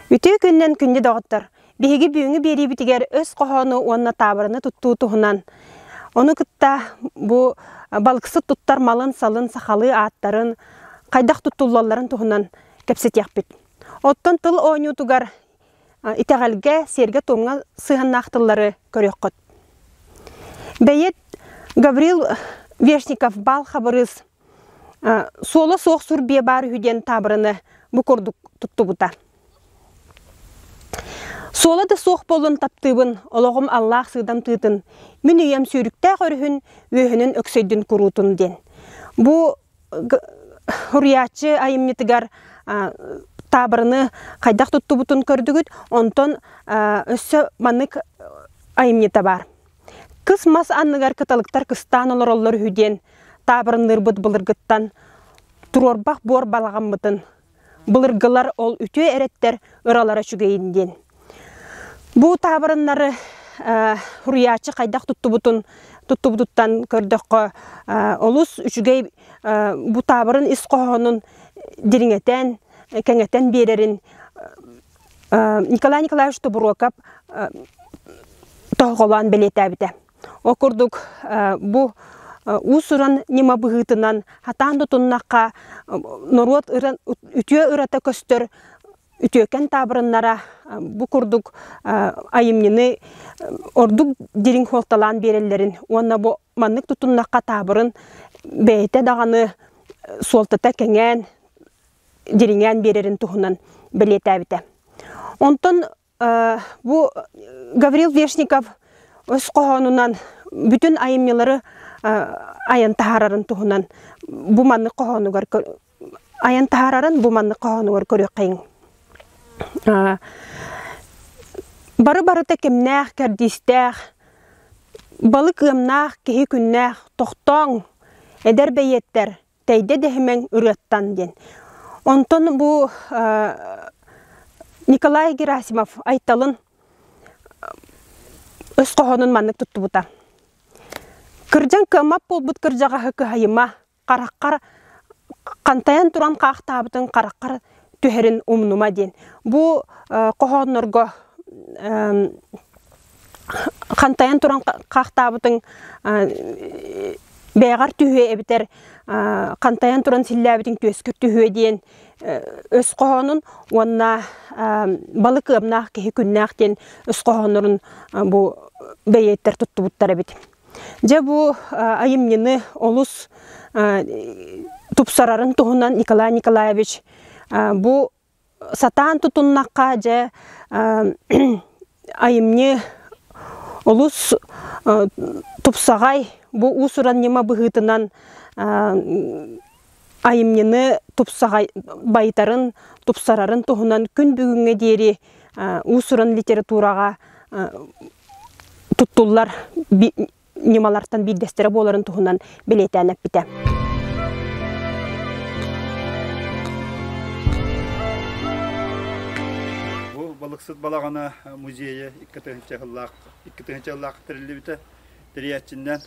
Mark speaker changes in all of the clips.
Speaker 1: Үтүө күннэн күндү доҕоттор! Биһиги бүгүҥҥү биэриибитигэр өс хоһоону уонна таабыраны туттуу туһунан. Ону кытта бу балыксыт туттар малын-салын, сахалыы ааттарын, хайдах туттуллалларын туһунан кэпсэтиэхпит. Оттон тыл оонньуутугар итэҕэлгэ, сиэргэ-туомҥа сыһыаннаах тыллары көрүөххүт. Бэйиэт Гаврил Вешников-Бал Хабырыыс суола суох сур биэ баар үһү диэн таабыраны бу курдук туттубута. Суола да суох буолан таптыыбын, олоҕум аллаах сыыдам тыытын, мин үйэм сүүрүктээх өрүһүн, үөһүнүн өксөйдүн куруутун диэн. Бу Хуруйааччы айымньытыгар таабырыны хайдах туттубутун көрдүгүт, онтон өссө маннык айымньыта баар. Кыс мас анныгар кыталыктар кыстаан олороллор үһү диэн таабырынныырбыт былыргыттан туруорбах буор балаҕаммытын Былыргылар ол үтүө эрэттэр ыралара үчүгэйин диэн. Бу таабырыннары суруйааччы хайдах туттубутун туттубутуттан көрдөххө олус үчүгэй бу таабырын ис хоһоонун дириҥэтэн, кэҥэтэн биэрэрин Николай Николаевич Тобуруокап тоһоҕолоон бэлиэтээбитэ. Ол курдук бу уус-уран ньыма быһыытынан хатаан да туннахха норуот үтүө ырата көстөр үтүөкэн таабырыннара бу курдук айымньыны ордук дириҥ суолталаан биэрэллэрин уонна бу маннык тутуннахха таабырын бэйэтэ даҕаны суолтата кэҥээн дириҥээн биэрэрин туһунан бэлиэтээбитэ. Онтон Бу Гаврил Вешников өс хоһоонунан бүтүн айымньылары айан таһаарарын туһунан бу маннык хоһоонугар айан таһаарарын бу маннык хоһоонугар көрүөххэйиҥ. Бары барыта кимнээх кэрдиистээх, балык ыамнаах киһи күннээх, тохтооҥ, эдэр бэйиэттэр Тэйдэ дэһимэҥ ырыаттан диэн. Онтон бу Николай Герасимов Айталын өс хоһоонун маннык туттубута. Кырдьан кыаммат буолбут кырдьаҕаһы кыһайыма, хараххар хантайан туран хаахтаабытын хараххар түһэрин умнума диэн. Бу хоһооннорго хантайан туран хаахтаабытыҥ бэйэҕэр түһүө эбэтэр хантайан туран силлээбитиҥ түөскүр түһүө диэн өс хоһоонун уонна балык ыамнаах киһи күннээх диэн өс хоһооннорун бу бэйиэттэр туттубуттар эбит. Дьэ бу айымньыны олус тупсарарын туһунан Николай Николаевич бу Сатаан тутуннахха дьэ айымньы олус тупсаҕай бу уус-уран ньыма быһыытынан айымньыны тупсаҕай байытарын тупсарарын туһунан күн бүгүҥҥэ диэри уус-уран литератураҕа туттуллар ньымалартан биирдэстэрэ буоларын туһунан бэлиэтээн эппитэ. Бу балыксыт балаҕана музейа икки тыһынча сыллаах икки тыһынча сыллаах тэриллибитэ тэрийээччиннэн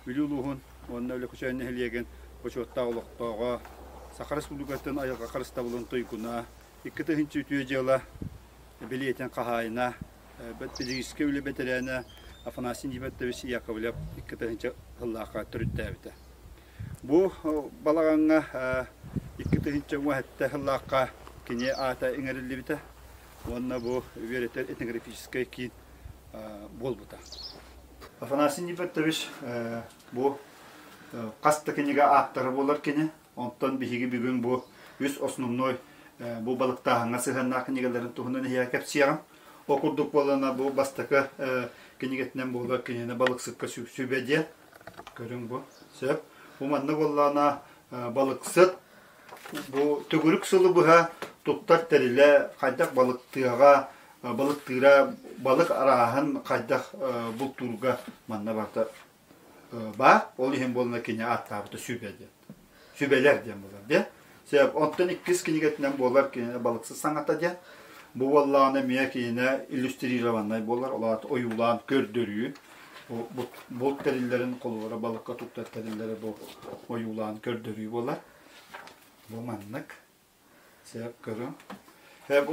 Speaker 1: Бүлүү улууһун уонна Өлөкүчөөн нэһилиэгин бочуоттаах олохтооҕо Саха Республикатын айылҕа харыстабылын туйгуна икки тыһынча үтүө дьыала бэлиэтин хаһаайына бэт-физическэй үлэ бэтэрээнэ Афанасий Небертович Яковлев икки тыһыынча сыллаахха төрүттээбитэ. Бу балаҕаҥҥа икки тыһыынча уон сэттэ сыллаахха кини аата иҥэриллибитэ уонна бу үөрэтэр этнографическай киин буолбута. Афанасий Небертович бу хас да кинигэ ааптара буолар кини Онтон биһиги бүгүн бу үс основной бу балыктааһыҥҥа сыһыаннаах кинигэлэрин туһунан эһиэхэ кэпсиэҕим. Ол курдук буоллана бу бастакы кинигэтинэн буолар киниэни балыксыкка сүбэ диэ. Көрүҥ бу. Сөп. Бу манна буоллана балыксыт бу төгүрүк сылы быһа туттар тэрилэ хайдах балыктыаҕа балыктыыра балык арааһын хайдах бултуурга манна барта Ба, ол иһин буолла кини ааттаабыта сүбэ диэн. Сүбэлэр диэн булар диэн. Сеп, онтон иккис кинигэтинэн буолар кинине балыксы саҥата диэн. Бу уоллааны мия кинине иллюстрированнай болар, олаат ойуулаан көрдөрүү. Булт тэриллерин колуора балыкка туттар тэриллери бу ойуулаан көрдөрүү болар. Бу маннык. Сөп көрүҥ.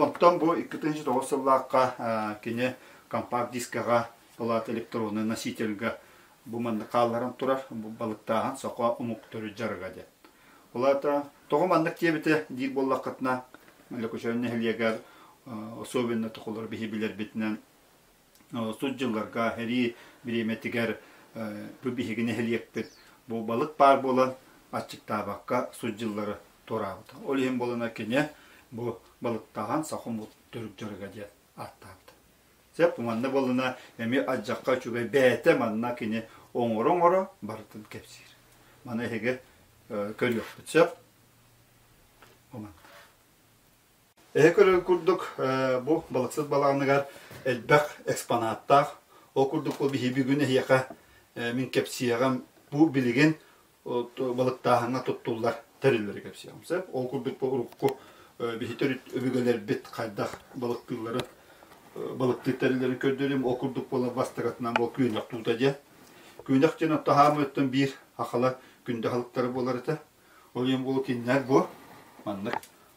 Speaker 1: Оттон бу 2009 сыллаахха кини компакт дискаҕа палата электроннай носительга бу маннык хаалларан турар, бу балыктааһын сокуо омук төрүт дьарыга диэн. Улаата тоҕо маннык диэбитэ диир буоллаххытына, Лөкөчөөн нэһилиэгэр особенно тухулар биһи билэрбитинэн тус дьылларга эрии бириэмэтигэр бу биһиги нэһилиэкпит бу балык баар буолан аччыктаабакка сут дьыллары туораабыта. Ол иһин буолана кинэ бу балыктаҕан сахумут түрк дьөрүгэ диэн ааттаабыта. Сөп манна болуна эми адьакка үчүгэй бэйэтэ манна кини оҥоро-оҥоро барытын кэпсиир. Маны эһиги көрүөхпүт сөп. Эһэ көрөр курдук, бу балыксыт балаҕаныгар элбэх экспонаттаах. Ол курдук бу биһиги бүгүн эһиэхэ, мин кэпсиэҕим, бу билигин балыктааһыҥҥа туттуллар тэриллэри кэпсиэҕим сөп. Ол курдук бу урукку биһи төрүт өбүгэлэрбит хайдах балыктыылларын, балыктыыр тэриллэрин көрдөрүм. Ол курдук буолар бастакытынан буол күөнэх туута диэн. Күөнэх диэн отто хаамыыттан биир ахала күндэ аһылыктара буолар этэ. Ол иһин бу кинилэр бу маннык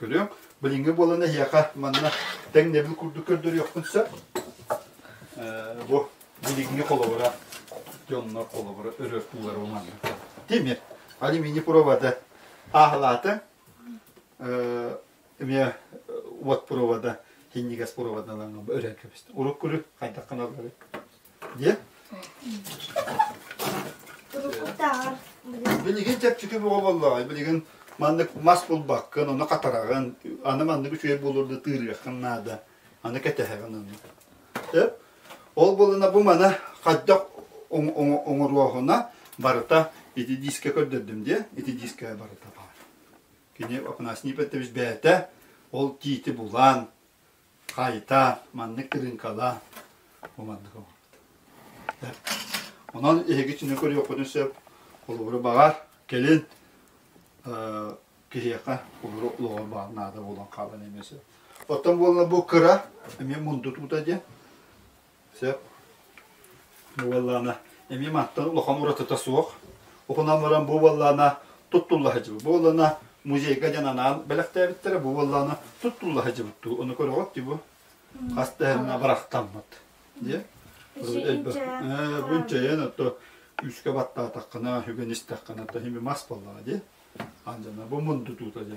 Speaker 1: Көрүөҥ, билиҥҥи буолан эһиэхэ манна тэҥ нэбил курдук көрдөрүөхпүн сөп. Бу билиҥҥи холобура дьоннор холобура өрөттуулара уманна. Тимир, алюминий провода ааһалаата. Эмиэ уот провода, хиннигас проводадан өрөр кэбисти. Урут күлү хайдах каналлары Диэ. Билигин чэпчэки буола буоллаҕай, билигин маннык мас булбаккын, ону хатараҕын, аны маннык үчүгэй буолуурда тыырыаххын наада, аны кэтэһэҕин аны. Сөп? Ол буолана бу мана хайдах оҥоруоһуна барыта ити диискэ көрдөрдүм диэ, ити диискэ барыта баар. Кини Апанас Нипеттович бээтэ, ол тиити булан, хаайта, маннык тырыыҥкалаа, бу маннык оҥорбут. Онон эһиги түнэ көрүөххүтүн сөп, холобура баҕар, кэлин киһиэхэ холобура олоҕор баар наада буолан хаалан эмиэ сөп. Оттон буолла бу кыра, эмиэ мундутуута диэн, Сөп. Буоллаана, эмиэ мантан улахан уратыта суох. Ухунан баран бу буоллаана туттулла сыдьыбыт. Бу буоллаана музейга дьон анаан бэлэхтээбиттэрэ. Бу буоллаана туттулла сыдьыбыт дуу. Ону көрөҕүт дии бу. Хас да эмэ барахтаммыт. Дьэ. Бунчайын ото үскэ баттаатаххына, үгэн истэххинэ, то хими мас боллаа, ди. Анжана, бу мунду туута, ди.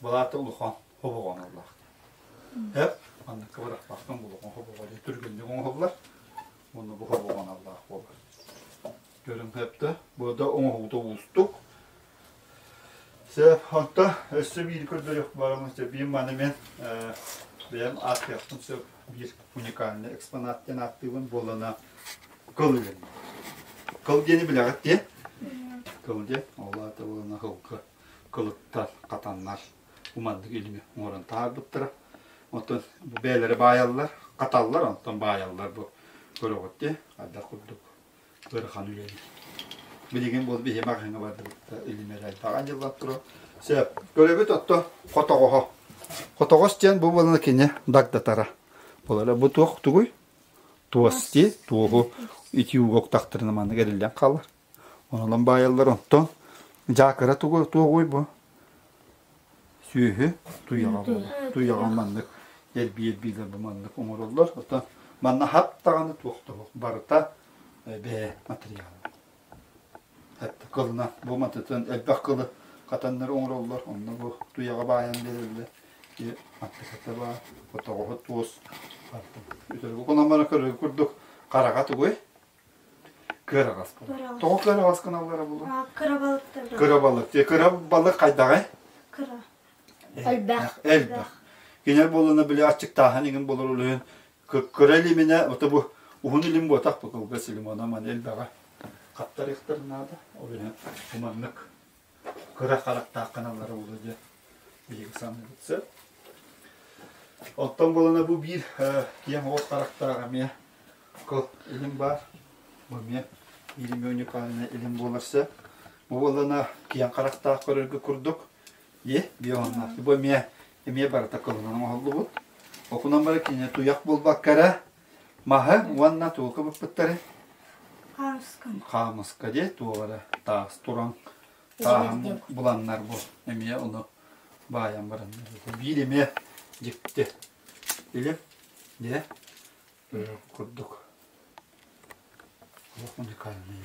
Speaker 1: Былаата улахан хобоҕон аллаахтар. Эп, анна кыбырахпахтан булуон хобоҕо дьэ түргэнник оҥоһуллар. Онно бу хобоҕон аллаах буолар. Көрүҥ хэптэ. Бу да оҥоһуута уустук. Се ханта өссө биир көрдөрөх барамын се биир маны мен бэйэм ааттыахтым се биир уникальный экспонат диэн ааттыыбын буолана кылыгын. Кыл диэни билэҕит диэн. Кыл диэн олаата буолана хылгы. кылыттар, хатаннар уманнык илими оҥорон таһаарбыттара. Оттон бу бэйэлэрэ баайаллар, хаталлар, онтон баайаллар бу көрөҕүт те, хайдах курдук ыарахан үлэни. Билигин бу биһи маҕаһыҥҥа бардыбытта илимэрэ айдаҕан дьыллан тура. Сөп, көрөбүт отто хотоҕоһо. Хотоҕос диэн бу буолана кине дагдатара. Болара бу туох тугуй? Туос ти, туоһу ити угуктахтырына маннык эриллэн хаалар. Онон баайаллар оттон дьаакыра туга туоҕуй бу? Сүөһү туйаҕа туйаҕа маннык эрбиэрбиилэр бу маннык оҥороллор. Оттон манна хат даҕаны туох да суох барыта бэйэ матырыйаала. Эт кылына бу матытын элбэх кылы хатаннары оҥороллор. Онно бу туйаҕа баайан биэрэллэр. Ити матыката баар, хотоҕоһо туос. Барыта. Үтүрүгү кунамара көрөргө курдук хараҕа тугуй? Кыараҕас кына. Тоҕо кыараҕас кыналлара булуҥ? Кырабалык диye. Кырабалык хайдаҕай? Кыра. Элбэх. Элбэх. Кинер болуна биле аччыктааһын игин болор улуйун. Кыра илимине, ото бу уһун илим буотах бу кылгас илим, ана ман элбэҕэ. Хаптар ихтыр наада. Ол иһин уманнык. Кырах харахтаах каналлары буолуо диэн биһиги саныыбыт сөп. Оттон буолана бу биир киэҥ оҕус харахтаах эмиэ кыл илим баар. Бу эмиэ Иримия уникальна илим буолар сөп. Бу буолана киэҥ харахтаах көрөргө курдук. И, бионнаах. Бу эмиэ эмиэ барыта кылынан оҥоһуллубут. Окунан бары кинини туйах булбакка эрэ Маһы уонна туолка быппыттары хаамыска диэ туолара таас туран тааһын буланнар бу эмиэ ону баайан бараннар биир эмиэ дьикти или не курдук олох уникальный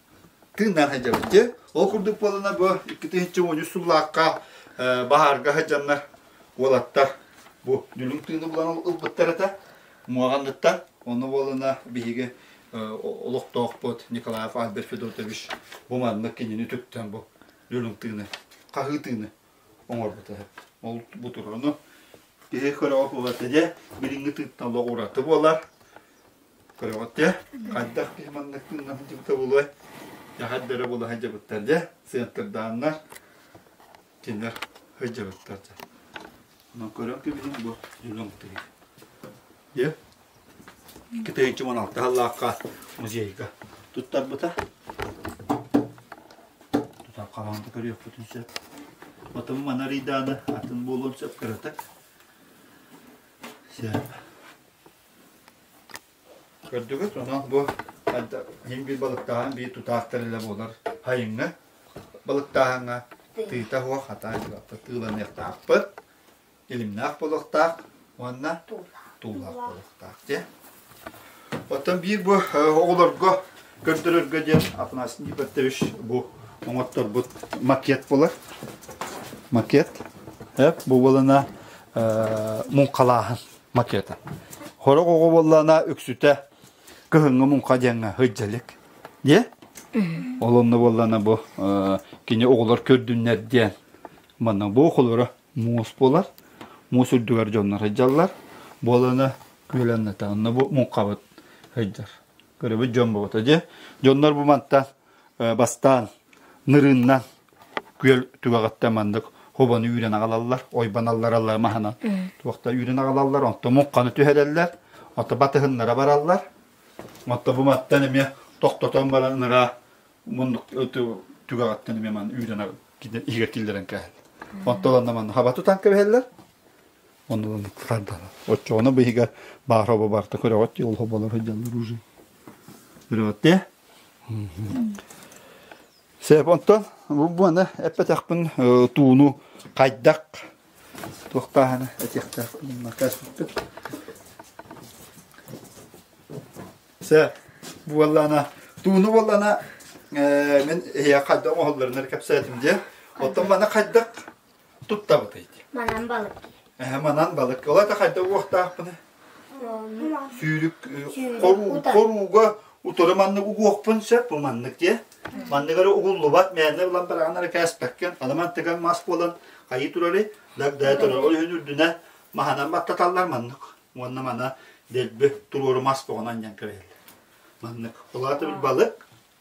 Speaker 1: тыыннаах сылдьабыт дьэ ол курдук буоллана бу икки тыһыынча уончус сыллаахха баһаарга сыдьаннар уолаттар бу дүлүҥ тыыны булан ылбыттар этэ муоҕанныттан онно буоллана биһиги олохтоохпут Николаев Альберт Федотович бу маннык кинини түптэн бу дүлүҥ тыыны хаһыы тыыны оҥорбута ол бу туруну киһи көрөҕө буолата дьэ билиҥҥи тыыттан олох ураты буолар көрөҕүттэ хайдах киһи маннык тыынна сылдьыбыта булуой яхайдара була сылдьыбыттар дьэ центрдааннар кинилэр сылдьыбыттар дьэ онон көрөн кибитин бу дьулун тыйы дьэ китайчы он алты халлаахха музейга туттарбыта тутар хамаанда көрүөхпүтүн сөп отон манарыйдааны атын буолуон сөп көрөтөк сөп Көрдүгүт ону бу мин биир балыктааһын биир тутаахтар илэ буолар хайыҥҥа балыктааһыҥҥа тыыта суох хатаан дьулахпыт тыыланыахтаахпыт илимнээх буолуохтаах уонна туулаах буолуохтаах дьэ оттон биир бу оҕолорго көрдөрөргө диэн Афанасий Николаевич бу оҥотторбут макет буолар макет эп бу буолана муҥхалааһын макета. Хорох оҕо боллана үксүтэ кыһыҥҥы муҥха диэҥҥэ хыддьалык. Диэ? Олонно боллана бу кини оҕолор көрдүннэр диэн манна бу оҕолоро муус болар. Муус үрдүгэр дьоннор хыддьаллар. Болана күөлэннэтэ онно бу муҥхабыт хыддьар. көрөбүт дьон буолута дьэ дьоннор бу мантан бастаан нырыннан күөл түгэҕэттэн маннык хобону үүрэн аҕалаллар ойбаналлараллар маһынан туохта үүрэн аҕалаллар онто муҥханы түһэрэллэр онто батыһыннара бараллар онто бу маттан эмиэ тохтотон баран ыныраа муннук түгэҕэттэн эмиэ ман үүрэн игэр киллэрэн кээһэллэр онто ланна манна хаба тутан кэбиһэллэр Ону кытардаҕа. Оччоҕуна быһыга баар оба барта көрөҕөт диэ олоһо болар сылдьаллар уже. Көрөҕөт Сеп онтон бу буаны эппэтэхпин тууну хайдах туохтааһына этиэхтээх каспыппыт. Сеп буоллана тууну буоллана мен хайдах оһолларынар кэпсээтим дия. Оттон мана хайдах туттабытай дии. Манан балык дии. Эһэ манан балык. Ола да хайда уохтаахпына. Сүүрүк хорууга утары маннык угуохпун сөп бу маннык дие. Манныгары угуллубат мээнэ булан бараганары кээспеккен. Анаман тыган мас буолан хайы турали дагда туралы үнүрдүнэ маханан баттаталлар маннык. Уонна мана дэлби туруору мас тоғынан ян кірелі. Маннык. Олаты бір балык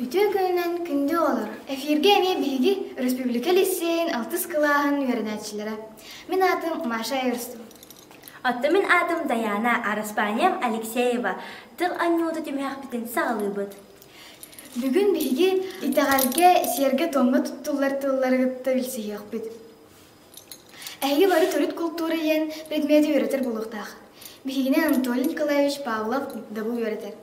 Speaker 1: Үтүө күнүнэн күндү оҕолор! Эфиргэ эмиэ биһиги өрөспүүбүлүкэ лиссиэйин алтыс кылааһын үөрэнээччилэрэ. Мин аатым Маша Эрсу. Оттон мин аатым Дайаана, араспаанньам Алексеева. Тыл анньыыта түмүһэхпитин саҕалыыбыт. Бүгүн биһиги итэҕэлгэ, сиэргэ-туомҥа туттуллар тыллары кытта билсиһиэхпит. Эһиги бары төрүт култуура иһин предмети үөрэтэр буолуохтаах. Биһигини Анатолий Николаевич Павлов дабыл үөрэтэр.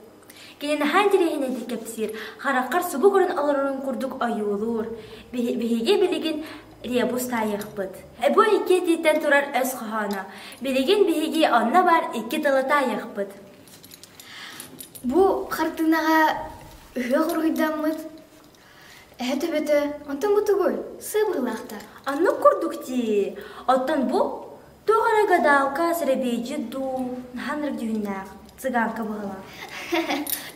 Speaker 1: Кини наһаа интэриэһинэйдик кэпсиир, хараххар субу көрөн олорорун курдук ойуулуур. Биһиги билигин ребус таайыахпыт. Бу икки этииттэн турар өс хоһооно. Билигин биһиги онно баар икки тылы таайыахпыт. Бу хартыынаҕа ыһыах уруһуйдаммыт Эһэ төбөтө оту-мутугуй, сыбыылаахтар. Аны курдук дии. Оттон бу туох эрэ гадалка, сэрэбиэйдьит дуу, наһаа нөрдүһүннээх цыганка быһылаах.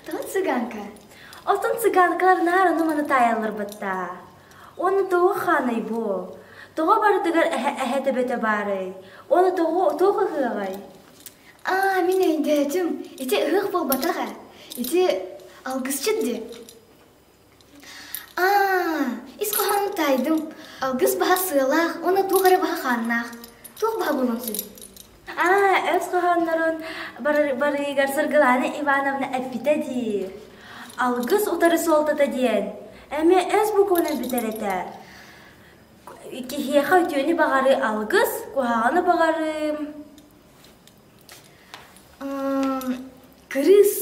Speaker 1: Тоҕо цыганка? Оттон цыганкалар наар ону-маны таайалларбыттаа. Уонна тоҕо хааный бу? Тоҕо барытыгар эһэ төбөтө баарый? Уонна тоҕо туох ыһыаҕай? Аа, мин өйдөөтүм. Ити ыһыах буолбатах ээ. Ити алгысчыт дии. Ис хоһоон таайдым. Алгыс баһа сыалаах уонна туох эрэ баһа хааннаах. Туох баһа буолуон сөп? Аа, өс хоһооннорун барыыгар Сыргылаана Ивановна эппитэ дии. Алгыс утары суолтата диэн. Эмиэ өс букуонун бүтэр этэ. Киһиэхэ үтүөнү баҕарыы алгыс, куһаҕаны баҕарыым. кырыыс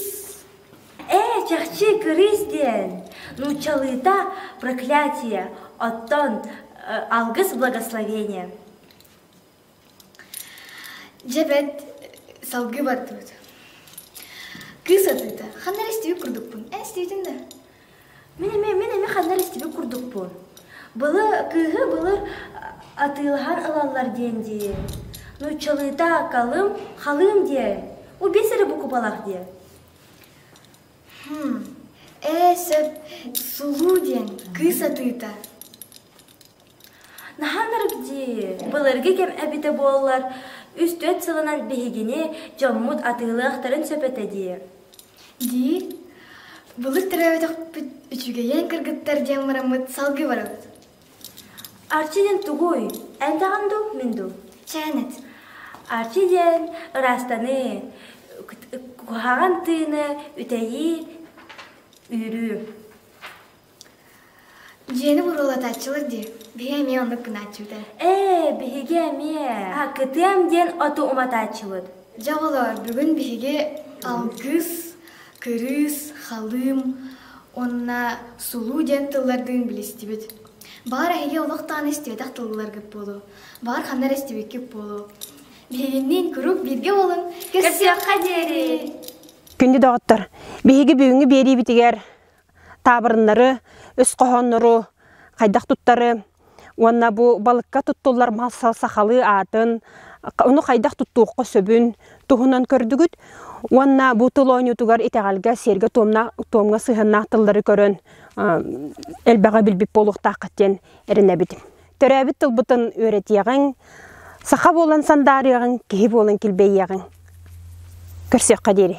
Speaker 1: ээ чахчы кырыыс диэн нууччалыыта проклятие оттон алгыс благословение дьэ бэрт салгыы бардыбыт кыыс атыыта ханна эрэ истибит курдукпун эн истибитиҥ да Мин эмиэ, мин эмиэ ханна эрэ истибит курдукпун. Былы, кыыһы былыр атыылаһар ылаллар диэн дии. Нууччалыыта калым, халыым диэ. У биэс эрэ букубалаах диэ. Хм, ээ сөп, сулуу диэн кыыс атыыта. Наһаанарык дии, былыргы кэм эбитэ буоллар, үс-түөрт сылынан биһигини дьоммут атыылыахтарын сөп этэ дии. Дии, былыт төрөөбөтөхпүт үчүгэйин кыргыттар диэн бараммыт салгыы барабыт. Арчидин тугуй? Элбэҕин дуу, мин дуу? Чээнэт. Арчи диэн ыраастаныы, куһаҕан тыыны үтэйии, үүрүү. Дьиэни буруулатааччылар дии. Биһи эмиэ оннук гынааччыыта. Ээ, биһиги эмиэ кытыам диэн оту уматааччыбыт. Дьэ оҕолоор, бүгүн биһиги алгыс, кырыыс, халыым уонна сулуу диэн тыллардыын билистибит. Баҕар эһиги олохтоон истиэтэх тылларгыт буолуо. Баҕар ханна эрэ истибиккит буолуо. Биһигинниин куруук бииргэ буолун. Көрсүөххэ диэри. Күндү доҕоттор, биһиги бүгүҥҥү биэриибитигэр таабырыннары, үс хоһооннору хайдах туттары уонна бу балыкка туттуллар мал сахалыы аатын, ону хайдах туттуохха сөбүн туһунан көрдүгүт уонна бу тыл оонньуутугар итэҕэлгэ сиэргэ туомҥа сыһыаннаах тыллары көрөн элбэҕи билбит буолуохтааххыт диэн эрэнэбит төрөөбүт тылбытын үөрэтиэҕиҥ, саха буолан сандаарыаҕыҥ, киһи буолан килбэйиэҕиҥ. Көрсүөххэ диэри.